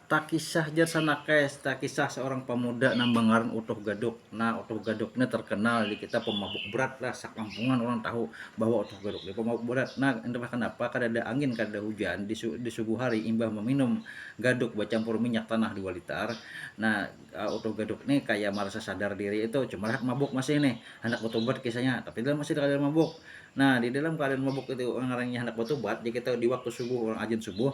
Takisah jar Sanakes, takisah seorang pemuda nang bengaran Utuh Gaduk. Nah, Utuh Gaduk ni terkenal di kita pemabuk berat lah, sekampungan orang tahu bahwa Utuh Gaduk ni pemabuk berat. Nah, entah kenapa kadada angin, kadada hujan, di di subuh hari imbah meminum gaduk becampur minyak tanah dua litar, nah Utuh Gaduk ni kaya merasa sadar diri itu, cumalah mabuk masih nih, handak betubat kisahnya, tapi dalam masih dalam keadaan mabuk. Nah, di dalam keadaan mabuk itu ngarannya handak betubat, di kita di waktu subuh, orang ajin subuh,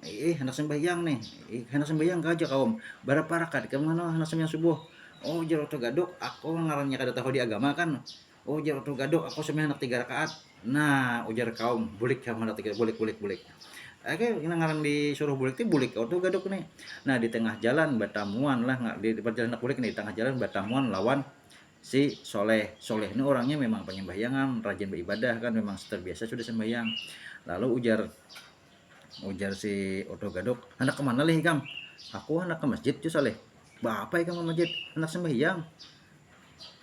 eh hendak sembahyang nih eh, hendak sembahyang aja kaum berapa rakaat ke mana hendak sembahyang subuh oh jar tuh gadok aku ngarannya kada tahu di agama kan oh jar tuh gadok aku sembahyang hendak tiga rakaat nah ujar kaum bulik kamu hendak tiga bulik bulik bulik Oke, ini ngaran disuruh bulik tuh bulik kau tuh gadok nih. Nah di tengah jalan batamuan lah nggak di perjalanan bulik nih di tengah jalan batamuan lawan si Soleh. Soleh ini orangnya memang penyembahyangan, rajin beribadah kan memang terbiasa sudah sembahyang. Lalu ujar Ujar si Odo Gaduk, handak kemana lih ikam? Aku handak ke masjid, Jus Saleh. Baapa ikam ke masjid? Handak sembahyang.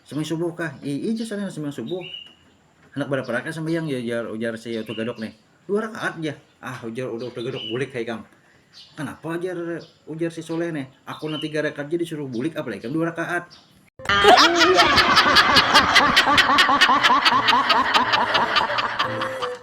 Sembahyang subuh kah? Ii, Jus Saleh, sembahyang subuh. Handak berapa rakaat sembahyang? Ya, ujar, ujar si Odo Gaduk nih. Dua rakaat ya. Ah, ujar Odo Gaduk, bulik hai ikam. Kenapa ujar ujar si Soleh nih? Aku nanti tiga rakaat jadi suruh bulik, apalagi ikam dua rakaat.